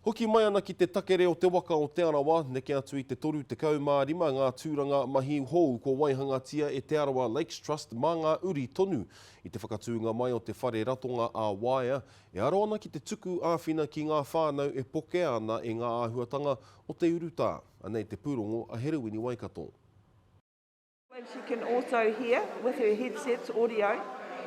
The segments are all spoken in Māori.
Hoki mai ana ki te takere o te waka o Te Arawa, neke atu i te 35 ngā tūranga mahi hou kua waihangatia e Te Arawa Lakes Trust mā ngā uri tonu. I te whakatūnga mai o te whare ratonga ā-waea, e aro ana ki te tuku āwhina ki ngā whānau e pokea ana e ngā āhuatanga o te urutā. Anei te pūrongo a Herewini Waikato. And she can also hear with her headsets, audio,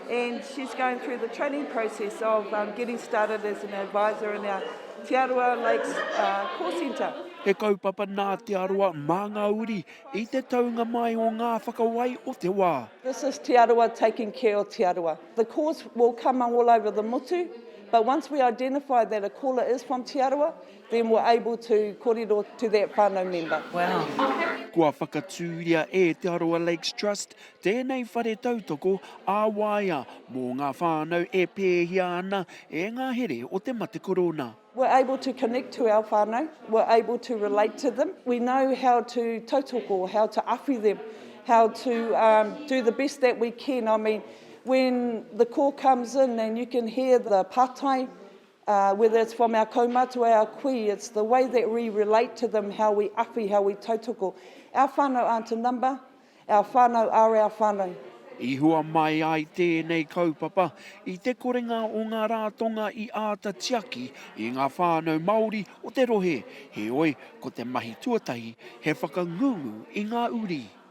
and she's going through the training process of um, getting started as an advisor in our Te Arawa Lakes uh, Call Centre. He kaupapa nā Te Arawa mā ngā uri i te taunga mai o ngā whakawai o te wā. This is Te Arawa taking care of Te Arawa. The calls will come all over the motu, but once we identify that a caller is from Te Arawa, Then we're able to korero to that whanau member. Kua whakatūria e Te Arawa Lakes Trust tēnei whare tautoko ā-waea mō ngā whānau e pēhia ana e ngā here o te mate korona. We're able to connect to our whānau, we're able to relate to them, we know how to tautoko, how to awhi them, how to um, do the best that we can. I mean, when the call comes in and you can hear the patai, Uh, whether it's from our kaumātua, our kui, it's the way that we relate to them, how we awhi, how we tautoko. Our whānau aren't a number, our whānau are our whānau. I hua mai ai tēnei kaupapa i te korenga o ngā rātonga i āta tiaki i ngā whānau Māori o te rohe, heoi, ko te mahi tuatahi he whakangungu i ngā uri.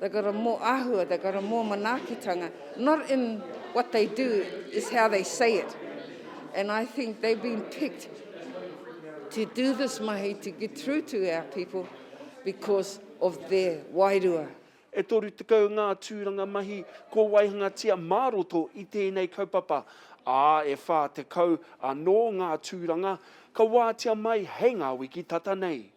They've got a more ahua, they've got a more manaakitanga, not in what they do, is how they say it. And I think they've been picked to do this mahi to get through to our people because of their wairua. E 30 ngā tūranga mahi kua waihangatia mā roto i tēnei kaupapa, ā, e 40 anō ngā tūranga ka wātea mai hei ngā wiki tata nei.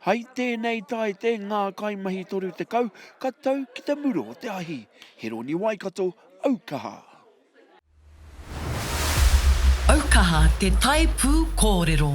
Hai tēnei taite ngā kaimahi 30 ka tau ki te muro o te ahi. Heroni Waikato, Aukaha. Aukaha te tae pū kōrero.